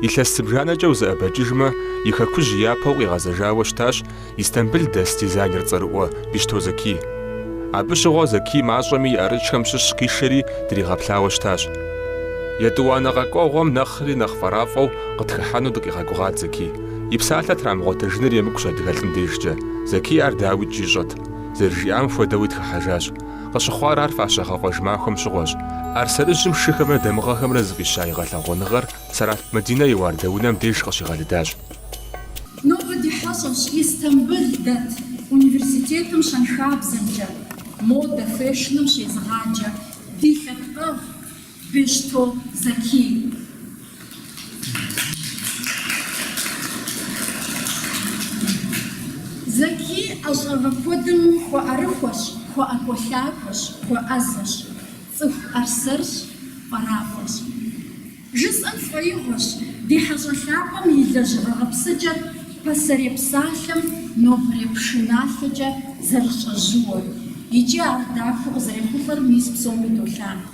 Илъэс зыбжанэкӏэ узэӏэбэкӏыжмэ, и хэкужь япэу къигъэзэжауэ щытащ Истамбыл дэс дизайнер цӏэрыӏуэ Бещто Зэкий. Абы щыгъуэ Зэкий мащӏэми и ӏэрыкӏхэм щыщ къишэри дригъэплъауэ щытащ. Етӏуанэ къэкӏуэгъуэм нэхъри нэхъ фӏэрафӏэу къытхыхьэну дыкъигъэгугъат Зэкий. И псалъэ трамыгъуэтэжыныр емыкӏущ адыгэлӏым дежкӏэ. Зэкий ар дауикӏ ищӏэт. Зэрыжиӏам хуэдэуи тхыхьэжащ. Къыщыхъуар ар фащэгъэкъуэж махуэм щыгъуэщ. ӏэрсэрыжьым "Шыхэмрэ дамыгъэхэмрэ" зыфӏища и гъэлъэгъуэныгъэр Сэралъп Мадинэ и уардэунэм деж къыщигъэлыдащ. Нобэ ди хьэщӏэщ Истамбыл дэт университетым щэнхабзэмкӏэ, модэ, фэшным щезыгъаджэ ди лъэпкъэгъу Бещто Закий. Закий ӏэщӏагъэ куэдым хуэӏэрыхуэщ, хуэӏэкӏуэлъакӏуэщ, хуэӏэзэщ, цӏыху ӏэрсэрщ, пӏэракӏуэщ. Жысӏэм сфӏэигъуэщ, ди хьэщӏэ лъапӏэм и лэжьыгъэ гъэпсыкӏэр пасэрей псалъэм нобэрей пшыналъэкӏэ зэрыщӏэжьыуэр, икӏи ар дахэу къызэрехъулӏэр мис псоми долъагъу.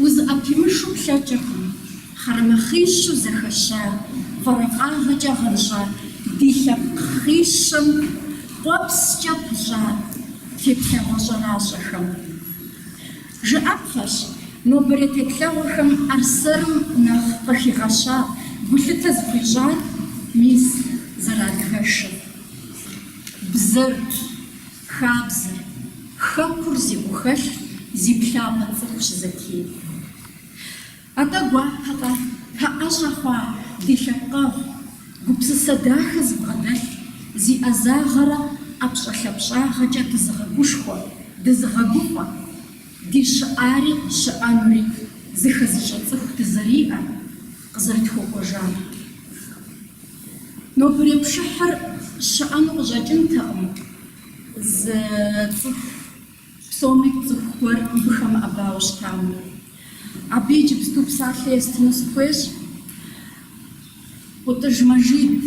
Узыӏэпимышу плъэкӏыркъым, хъэрэмэхъищу зэхэща, уэркъыгъэкӏэ гъэнщӏа ди лъэпкъ хъищэм къуэпскӏэ пыщӏа теплъэгъуэ щӏэращӏэхэм. Жыӏэпхъэщ, нобэрей теплъэгъуэхэм ӏэрсэрым нэхъ къыхигъэща гулъытэ зыхуищӏар мис ар адыгэшырщ. Бзэр, Хабзэр, Хэкур зи гухэлъ, зи плъапӏэ цӏыхущ Зэкий. Атӏэ гуапэкъэ, тпэӏэщӏэ хъуа ди лъэпкъэгъу, гупсысэ дахэ зыбгъэдэлъ, зи ӏэзагъэрэ ӏэпщӏэлъапщӏагъэкӏэ дызыгъэгушхуэ, дызыгъэгуфӏэ, ди щыӏари щыӏэнури зыхэзыщӏэ цӏыху дызэриӏэр, къызэрытхуэкӏуэжар. Нобэрей пшыхьыр щыӏэну къыщӏэкӏынтэкъым, зы цӏыху, псоми тцӏыху гуэр мыбы хэмыӏэбауэ щытам. Абы иджыпсту псалъэ естыну сыхуейщ, ӏутӏыж Мэжид,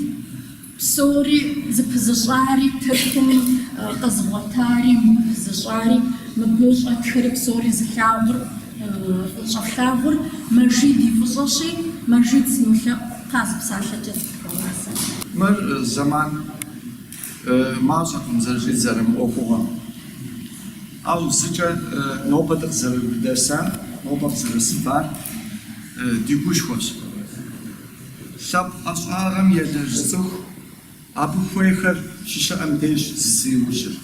псори зыпызыщӏари, Тыркуми къэзыгъуэтари, къыпызыщӏари, мыбы щӏэтхэри псори зылъагъур, щӏэтлъагъур Мэжид и фӏыщӏэщи, Мэжид сынолъэӏу. Къаз псалъэкӏэ зыпхуэгъазэ. Мыр зэман мащӏэкъым зэрыщыт мы ӏуэхугъуэм. Ауэ зыкӏэ нобэ дыкъызэрысар, нобэ къызэрысыжар ди гушхуэщ. Лъэпкъ ӏэщӏагъэм елэжь цӏыху, абы хуейхэр щыщыӏэм деж зыщиужьыр.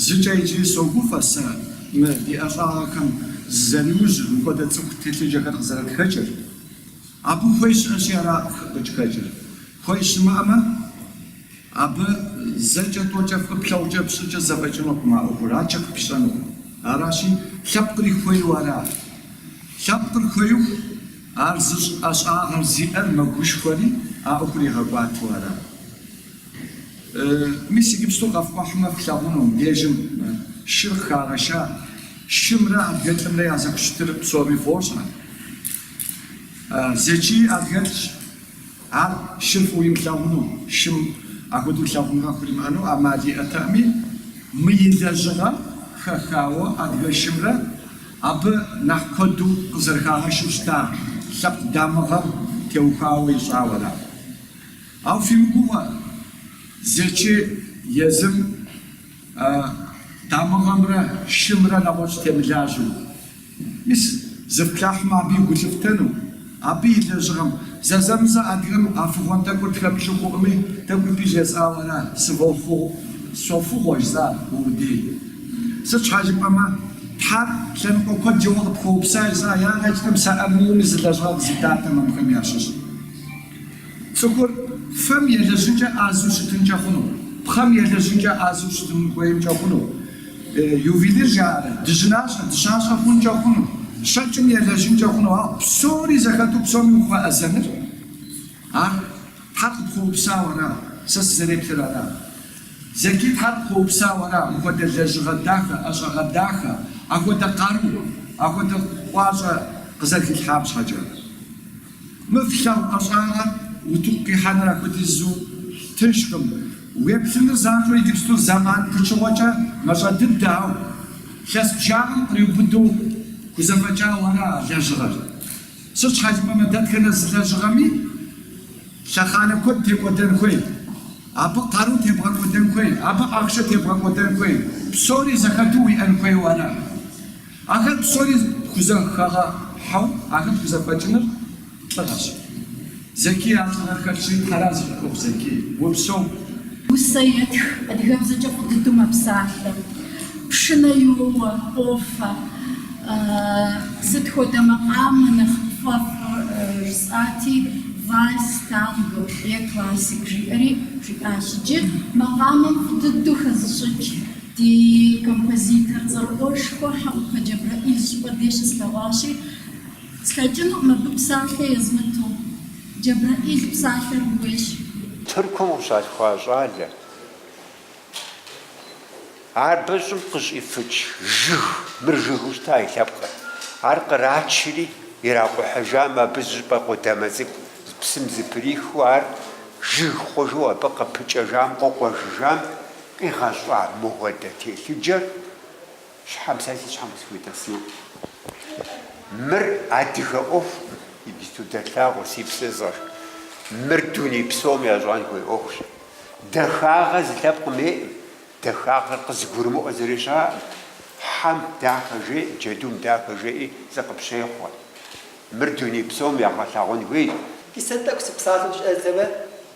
Зыкӏэ иджыри согуфӏэ сэ мы ди ӏэщӏагъэхэм зэрызаужьыр, мыпхуэдэ цӏыху телъыджэхэр къызэрытхэкӏыр. Абы хуей щыӏэщи, аращ ӏуэху къыхэкӏыр. Хуей щымыӏэмэ, абы зэкӏэ тӏокӏэ фӏыуэ плъагъукӏэ, пщӏыкӏэ зэфӏэкӏынукъым а ӏуэхур, ар къыпыпщэнукъым. Аращи, лъэпкъыр хуейуэ ара. Лъэпкъыр хуейу, ар зыщӏ ӏэщӏагъэр зиӏэр мэгушхуэри, а ӏуэхур игъэкӏуатэу ара. Мис иджыпсту къэфкӏухьмэ, флъагъуну, мыбдежым шыр къыхагъэша, шымрэ адыгэлӏымрэ я зэхущытыр псоми фӏощӏэ. Зэчий адыгэлӏщ. Ар шыр фӏыуэ имылъагъуну, шым апхуэдэу лъагъуныгъэ хуимыӏэну ӏэмал иӏэтэкъыми, мы и лэжьыгъэм хэхауэ адыгэ шымрэ абы нэхъ куэду къызэрыхагъэщыу щыта лъэпкъ дамыгъэм теухуауэ ищӏауэра. Ауэ фимыгугъэ Зэчий езым А дамыгъэмрэ шымрэ нэгъуэщӏ темылажьэу. Мис, зыфплъыхьмэ, абы гу лъыфтэну, абы и лэжьыгъэм. Зэзэмызэ адыгэм а фыгъуэн тӏэкӏур тхэмыту хъукъыми, тӏэкӏуи абы жесӏауэ ара сыфӏофыгъу, сфӏофыгъуэ жысӏа къудей. Сыт щхьа жыпӏэмэ, Тхьэр лъэныкъуэ куэд щыгъуэ къыпхуэупса жысӏа, ягъэкӏынтэкъым сэ армыхъуми зы лэжьыгъэ къызитатэмэ, абыхэм ящыщ. Цӏыхур фэм елэжьынкӏэ ӏэзэу щытынкӏэ хъуну, пхъэм елэжьынкӏэ ӏэзэу щытын хуеймкӏэ хъуну, ювелир жаӏэрэ, дыжьынащӏэ, дыщащӏэ хъункӏэ хъуну, щэкӏым елэжьынкӏэ хъуну, ауэ псори зэхэту псоми ухуэӏэзэныр, ар Тхьэр къыпхуэупсау ара, сэ сызэреплъыр ара. Зэчий Тхьэр къыхуэупсау ара мыхуэдэ лэжьыгъэ дахэ, ӏэщӏагъэ дахэ, ахуэдэ къару, ахуэдэ гуащӏэ къызэрыхилъхьам щхьэкӏэ. Мы флъагъу ӏэщӏагъэр утыку къихьэныр ахуэдизу тыншкъым. Уеплъыныр занщӏэу иджыпсту зэман пычыгъуэкӏэ мащӏэ дыдэ, ауэ лъэс бжыгъэм къриубыдэу хузэфӏэкӏауэра а лэжьыгъэр. Сыт щхьа жыпӏэмэ, дэтхэнэ зы лэжьыгъэми лъэхъанэ куэд текӏуэдэн хуей, абы къару тебгъэкӏуэдэн хуей, абы ахъшэ тебгъэкӏуэдэн хуей, псори зэхэту уиӏэн хуейуэ ара. Ахэр псори пхузэхэгъэхьэу ахэр пхузэфӏэкӏыныр лӏыгъэщ. Зэкий а лӏыгъэр хэлъщи, хьэра зыфӏыкӏуэу, Зэкий, упсэу. Усэ етх, адыгэбзэкӏэ фӏы дыдэу мэпсалъэ. Пшынэ йоуэ, къофэ. Сыт хуэдэ макъамэ нэхъ пфӏэфӏыр? жысӏати, вальс, танго е классик жиӏэри жиӏащ. Иджы макъамэм фӏы дыдэу хэзыщӏыкӏ. Ди композитор цӏэрыӏуэшхуэ Хьэӏупэ Джэбрэӏил щӏыпӏэ дей щыслъэгъуащи, слъэкӏынукъым абы псалъэ езмыту. Джэбрэӏил псалъэр ууейщ. Тыркум къыщалъхуа щӏалэ ар мы щӏым къыщӏифыкӏ жыг, мыр жыгыу щыта и лъэпкъыр, ар кърачри иракъухьыжам абы зыщӏыпӏэ къудамэ цӏыкӏу псым зэприхыу ар жыг хъужу абы къыпыкӏэжам, къыкъуэжыжам, Къигъэщӏа мыхуэдэ телъыджэр щхьэм сэ си щхьэм къысхуитӏэсэну. Мыр адыгэ ӏуэху, иджыпсту дэлъагъуэ, си псэ зыгъэш. Мыр дуней псом ящӏэн хуей ӏуэхущ. Дахагъэ зы лъэпкъым ейӏым, дахагъэр къызыгурымыӏуэ зыри щаӏым. Хьэм дахэ жеӏэ, джэдум дахэ жеӏи зыкъыпщехъуэ. Мыр дуней псом ягъэлъагъун хуейщ. Иджы сэ тӏэкӏу сыпсалъэу щӏэздзэмэ,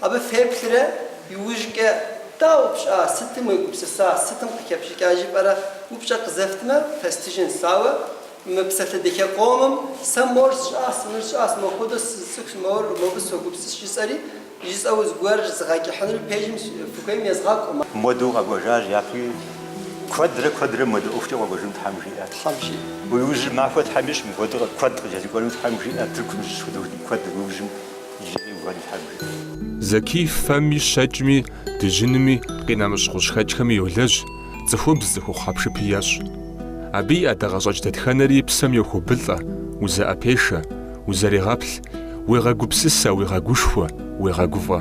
Абы феплърэ, иужькӏэ, Дауэ пщӏа, сытым уегупсыса, сытым къыхэпщӏыкӏа жыпӏэрэ? Упщӏэ къызэфтмэ, фэстыжынщ. Ауэ мы псалъэ дахэ къомым сэ мор сщӏащ, мыр сщӏащ, мохуэдэу сызыцӏыхущ, мор, мобы согупсысщ жысӏэри, жысӏэу зыгуэр згъэкӏыхьынур пэжым фыхуейм езгъакӏуэ. Муэдэу къэкӏуэжащ, япэуи куэдрэ куэдрэ муэдэ ӏуэхукӏэ къэкӏуэжыну Тхьэм жиӏэ. Тхьэм жиӏэ. Уи ужьыр махуэ Тхьэм ищӏ, мыхуэдэу куэд къыпкӏэлъыкӏуэну Тхьэм жиӏэ, Тыркум щыщ хуэдэ куэд уи ужьым. Зэкий фэми щэкӏми, дыжьынми, къинэмыщӏ гъущӏхэкӏхэми йолэжь, цӏыхубз цӏыхухъу хьэпшыпи ещӏ. Абы и ӏэдакъэщӏэкӏ дэтхэнэри псэм йохуэбылӏэ, узэӏэпешэ, узэрегъэплъ, уегъэгупсысэ, уегъэгушхуэ, уегъэгуфӏэ.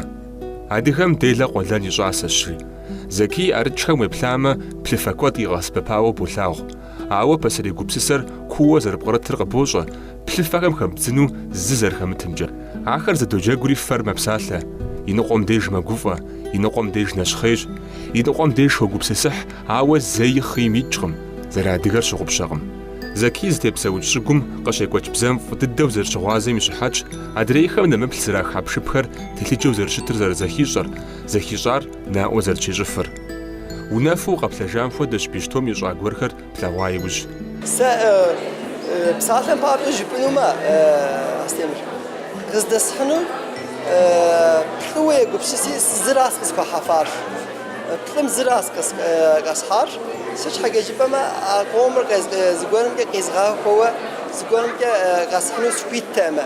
Адыгэм делэ къуэлэн и щӏасэщи, Зэкий и ӏэрыкӏхэм уеплъамэ, плъыфэ куэд къигъэсэбэпауэ болъагъу, Ауэ пасэрей гупсысэр кууэ зэрыпкърытыр къыбощӏэ, плъыфэхэм хэбдзыну зы зэрыхэмытымкӏэ. Ахэр зэдоджэгури фэр мэпсалъэ, и ныкъуэм деж мэгуфӏэ, и ныкъуэм деж нэщхъейщ, и ныкъуэм деж хогупсысыхь, ауэ зэи хъийм икӏкъым, зэрыадыгэр щыгъупщэкъым. Зэкий зытепсэукӏ щӏыгум къыщекӏуэкӏ бзэм фӏы дыдэу зэрыщыгъуазэм и щыхьэтщ адрейхэм нэмыплъ зэрах хьэпшыпхэр телъыджэу зэрыщытыр зэрызэхищӏэр, зэхищӏар, Наӏуэ зэрыщищӏыфыр. Унэфу укъэплъэжам хуэдэщ Бещтом ищӏа гуэрхэр плъэгъуа иужь. Сэ псалъэм папщӏэ жыпӏэнумэ, Астемыр, къыздэсхьынур плӏыуэ егупсыси, зыращ къысхуэхьэфар. Плӏым зыращ къэсхьар. Сыт щхьэкӏэ жыпӏэмэ, а къомыр зыгуэрымкӏэ къизгъэхуэуэ, зыгуэрымкӏэ къэсхьыну сыхуиттэмэ.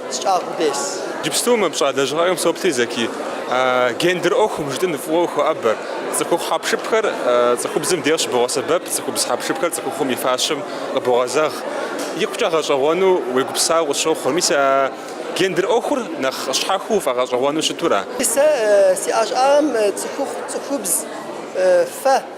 сщӏагъыу дес. Иджыпсту мы пщӏа лэжьыгъэхэм соплъри, Зэки, гендер ӏуэхум жытӏын фӏыуэ ухоӏэбэр. Цӏыхухъу хьэпшыпхэр цӏыхубзым дей къыщыбогъэсэбэп, цӏыхубз хьэпшыпхэр цӏыхухъум и фащэм къыбогъэзэгъ. Икъукӏэ гъэщӏэгъуэну уегупсысауэ къысщохъур. Мис а гендер ӏуэхур нэхъ щхьэхыу уфӏэгъэщӏэгъуэну щыту ара? Сэ си ӏэщӏагъэм цӏыхухъу, цӏыхубз, фэ.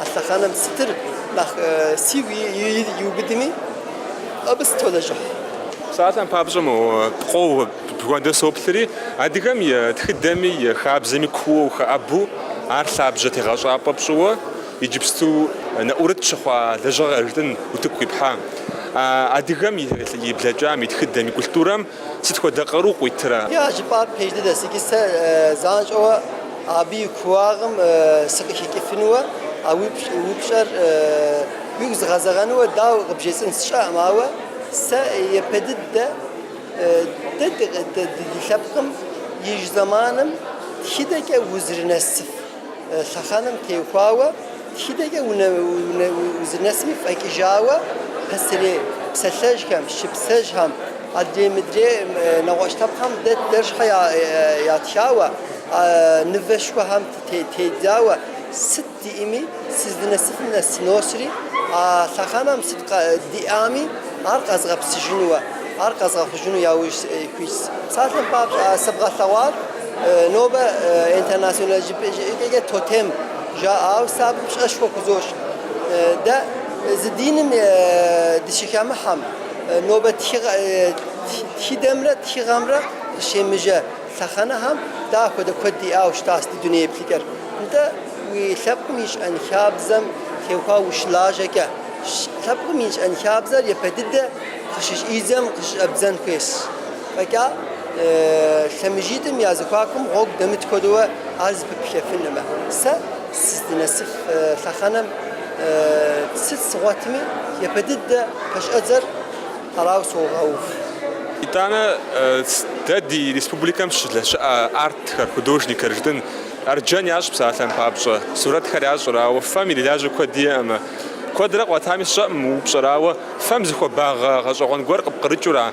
А лъэхъэнэм сытыр нэхъ сигу иубыдми, абы сытолэжьыхь. Псалъэм папщӏэ мо пкъоу бгуэндэ соплъри, адыгэм и тхыдэми и хабзэми кууэу ухэӏэбу, ар лъабжьэ тегъэщӏапӏэ пщӏыуэ, иджыпсту нэӏурыт щыхъуа лэжьыгъэ жытӏын утыку къипхьа. Адыгэм и блэкӏам, и тхыдэм, и культурэм сыт хуэдэ къару къуитрэ? Я жыпӏар пэж дыдэщ икӏи сэ занщӏэуэ абы и кууагъым сыкъыхэкӏыфынуэ, а упщӏэр уигу зыгъэзэгъэнуэ дауэ къыбжесӏэн сщӏэкъым, ауэ сэ епэ дыдэ дэ ди лъэпкъым ижь зэманым тхыдэкӏэ узэрынэсыф. лъэхъэнэм теухуауэ, тхыдэкӏэ узынэсми фӏэкӏыжауэ пасэрей псалъэжьхэм, шыпсэжьхэм, адрей-мыдрей нэгъуэщӏ лъэпкъхэм дэ дэр щхьэ ятхауэ, нывэшхуэхэм тедзауэ, сыт диӏэми сыздынэсыфым нэс сыносри, а лъэхъэнэм сыт диӏами ар къэзгъэпсыжынуэ, ар къэзгъэхъужыну яужь ситщ псалъэм папщӏэ сывгъэлъэгъуар. Нобэ интернационал жыпӏэкӏэ тотем жаӏауэ сэ абым пщӏэшхуэ хузощӏ. Дэ зы диным дыщыхэмыхьэм, нобэ тхыдэмрэ тхыгъэмрэ къыщемыжэ лъэхъэнэхэм дэ ахуэдэ куэд диӏауэ щытащ ди дуней еплъыкӏэр. Нтӏэ, уи лъэпкъым и щӏэнхабзэм теухуауэ ущылажьэкӏэ, лъэпкъым и щӏэнхабзэр епэ дыдэ къыщыщӏидзэм къыщыщӏэбдзэн хуейщ. Фӏэкӏа лъэмыжитӏым я зэхуакум гъуэгу дэмыт хуэдэуэ ар зэпыплъхьэфынумэ, сэ сыздынэсыф лъэхъэнэм сыт згъуэтми, япэ дыдэ пэщӏэдзэр арауэ согъэув. Итӏанэ дэ ди республикэм щылэ щыӏэ артхэр, художникхэр жытӏын, арджэн ящӏ псалъэм папщӏэ, сурэтхэр ящӏыр, ауэ фэм ирилажьэ куэд иӏэмэ. Куэдрэ къуатами сщӏэӏым, упщӏэр, ауэ, фэм зы хуабагъэ гъэщӏэгъуэн гуэр къыпкърыкӏыу ара?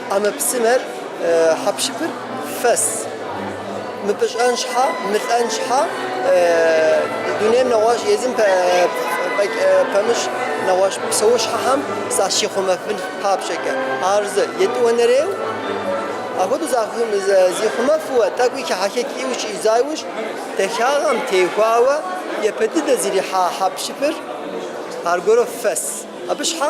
ӏэмэпсымэр, хьэпшыпыр фэс. Мыпӏыщӏэн щхьэ, мылӏэн щхьэ, дунейм нэгъуэщӏ, езым фӏэкӏ пэмыщӏ нэгъуэщӏ псэущхьэхэм защихъумэфын папщӏэкӏэ. Ар зы, етӏуанэрейуэ, апхуэдэу зихъумэфу, тӏэкӏуи хыхьэхэкӏыу щӏидза иужь, дахагъэм теухуауэ япэ дыдэ зэрихьа хьэпшыпыр аргуэру фэс. Абы щхьэ?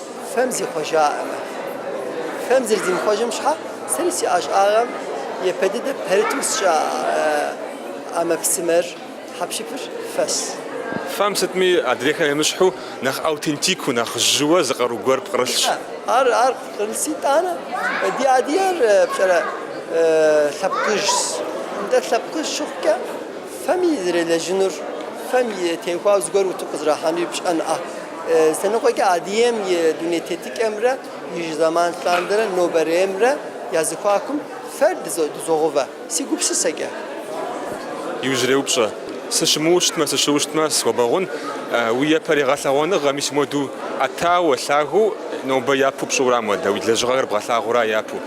Фэм зихъуэжаӏым. Фэм зэрызимыхъуэжым щхьэ, сэри си ӏэщӏагъэм япэ дыдэ пэрыту сщӏа ӏэмэпсымэр, хьэпшыпыр фэс. Фэм сытми адрейхэм емыщхьу нэхъ аутентикыу, нэхъ жьыуэ зы къару гуэр пкърылъщ. Ар ар пкърылъ итӏанэ. Ди адыгейр пщӏэрэ лъэпкъыжьщ. Нтӏэ, лъэпкъыжь щыхъукӏэ, фэми зэрелэжьынур, фэм и теухуауэ зыгуэр утыку къызэрахьэнури пщӏэнуӏэ. Лъэныкъуэкӏэ Адыгейм и дуней тетыкӏэмрэ и зэман лъандэрэ нобэреймрэ я зэхуакум фэр дызогъэувэ, си гупсысэкӏэ. Иужьрей упщӏэ. Сыщымыуэу щытмэ, сыщыуэу щытмэ, схуэбгъэгъун. Уи япэрей гъэлъэгъуэныгъэ, мис муэду ӏэтауэ, лъагэу нобэ япэу пщӏыура модэ, уи лэжьыгъэхэр бгъэлъагъуэура япэу?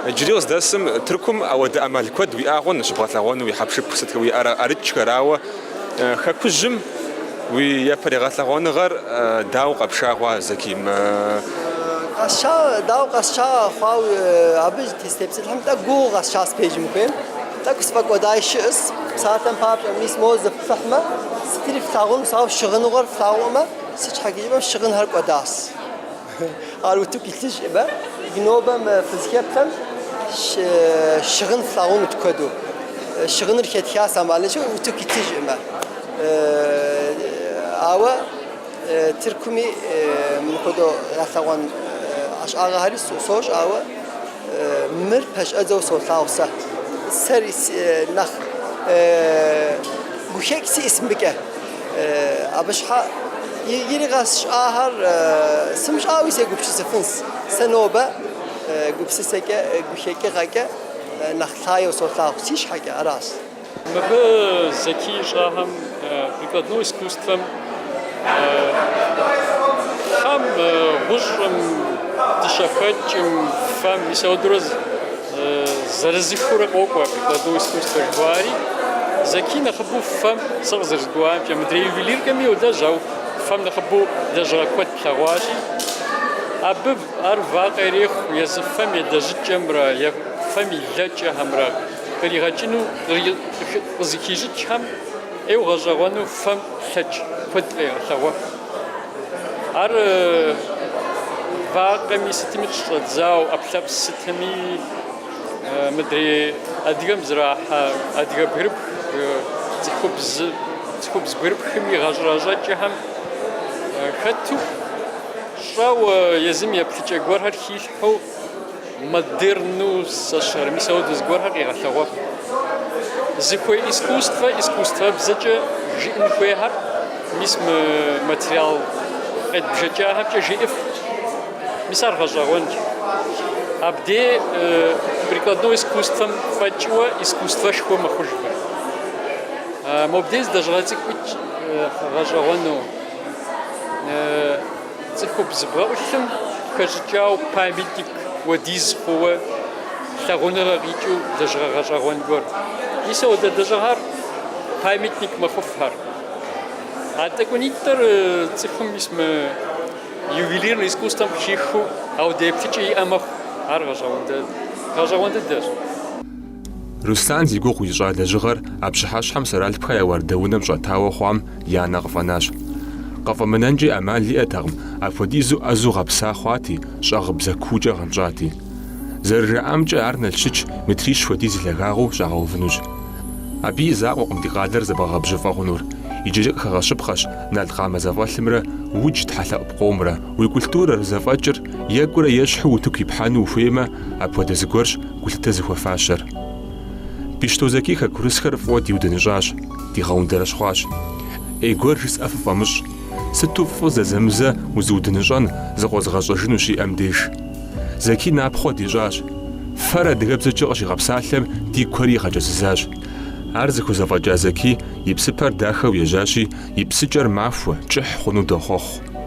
Иджыри къыздэсым Тыркум ауэдэ ӏэмал куэд уиӏа хъун щыбгъэлъэгъуэну уи хьэпшыпу сыт уиӏэрэ ӏэрыкӏхэр, ауэ Хэкужьым уи япэрей гъэлъэгъуэныгъэр дауэ къэпша хъуа, Зэки? Къэсша, дауэ къэсша хъуауэ, абы сытепсэлъыхьым тӏэкӏу гугъуу къэсшас, пэжым ухуейм. Тӏэкӏу сфӏэкӏуэдай щыӏэс. Псалъэм папщӏэ, мис моуэ зыфплъыхьмэ, сытри флъагъунщ, ауэ щыгъыныгъуэр флъагъуӏым, сыт щхьэкӏэ жыпӏэмэ, щыгъынхэр кӏуэдащ. Ар утыку илъыщ ӏыба? Нобэ фызхэплъэм щыгъын флъагъунут куэду. Щыгъыныр хетха сэмалынщу утыку илъыщ ӏыба? Ауэ Тыркуми мыпхуэдэу ялъэгъуэн ӏэщӏагъэхэри сощӏ, ауэ мыр пэщӏэдзэу солъагъу сэ. Сэри нэхъ гухэкӏ сиӏэс мыбыкӏэ. Абы щхьэкӏи къэсщӏахэр сымыщӏауи сегупсысыфынщ. Сэ нобэ гупсысэкӏэ, гухэкӏыгъэкӏэ нэхъ лъагэу солъагъу си щхьэкӏэ, аращ. Мыбы Зэки ищӏахэм прикладной искусствэм фэм, гъущӏым, дыщэхэкӏым, фэм, мис ауэдурэ. Зырызыхыурэ къокӏуэ прикладное искусство жыхуаӏэри. Зэки нэхъыбэу фэм сэ къызэрызгурыӏуамкӏэ, мыдрей ювелиркэми йолэжь, ауэ фэм нэхъыбэу лэжьыгъэ куэд плъэгъуащи, абы ар вакъэ ирехъу езы фэм и лэжьыкӏэмрэ е фэм и лэкӏэхэмрэ къригъэкӏыну, къызыхищӏыкӏхэм ӏейуэ гъэщӏэгъуэну фэм лъэкӏ куэд къегъэлъэгъуэф. Ар вакъэми, сытми къыщыщӏэдзауэ, ӏэпслъэпс сытми мыдрей адыгэм зрахьэ адыгэ бгырыпх, цӏыхубз, цӏыхубз бгырыпхым и гъэщӏэрэщӏэкӏэхэм хэту, щӏэуэ езым еплъыкӏэ гуэрхэр хилъхьэу, Модерну сэщэр, мис ауэдэ зыгуэрхэр къигъэлъэгъуэф. Зыхуей искусствэ, искусствэбзэкӏэ жиӏэн хуейхэр, мис мы материал къедбжэкӏахэмкӏэ жиӏыф, мис ар гъэщӏэгъуэнщ. Абдей прикладной искусствэм фӏэкӏыуэ искусствэшхуэ мэхъужхэр. Мобдей зы лэжьыгъэ цӏыкӏуи гъэщӏэгъуэну. Цӏыхубз бгъэӏулъым хэщӏыкӏауэ памятник хуэдиз хъууэ лъагъуныгъэ къикӏыу лэжьыгъэ гъэщӏэгъуэн гуэр. Мис ауэдэ лэжьыгъэр памятник мэхъуф ар. А тӏэкӏунитӏыр цӏыхум мис мы ювелирнэ искусствэм къыхихыу ауэдэ еплъыкӏэ иӏэ мэхъу, ар гъэщӏэгъуэн дэ- гъэщӏэгъуэн дыдэщ. Руслан зи гугъу ищӏа лэжьыгъэр а пщыхьэщхьэм Сэралъпхэ я уардэунэм щӏэтауэ хъуам я нэ къыфӏэнащ. Къыфӏэмынэнкӏи ӏэмал иӏэтэкъым, апхуэдизу ӏэзэу гъэпса хъуати, щӏэгъыбзэ куукӏэ гъэнщӏати. Зэрыжаӏамкӏэ, ар Налщыч метрищ хуэдиз лъагагъыу щӏагъэувынущ. Абы и закъуэкъым ди къалэр зэбгъэгъэбжьыфӏэ хъунур, иджыри къыхэгъэщыпхъэщ налкъамэ зэфӏэлъымрэ удж тхьэлъэӏу пкъомрэ. Уи культурэр, зэфӏэкӏыр, екӏурэ ещхьу утыку ипхьэну ухуеймэ, апхуэдэ зыгуэрщ гулъытэ зыхуэфащэр. Бищто Зэки хэкурысхэр фӏыуэ диудыныщӏащ, дигъэундэрэщхъуащ. ӏей гуэр жысӏэ фыфӏэмыщӏ, сыту фӏы зэзэмызэ узыудыныщӏэн зыкъозыгъэщӏэжын ущиӏэм деж. Зэки напхъуэ дищӏащ. Фэр адыгэбзэкӏэ къыщигъэпсалъэм ди куэри игъэкӏэзызащ. Ар зыхузэфӏэкӏа Зэки и псыпэр дахэу ежьащи, и псыкӏэр махуэ, кӏыхь хъуну дохъуэхъу.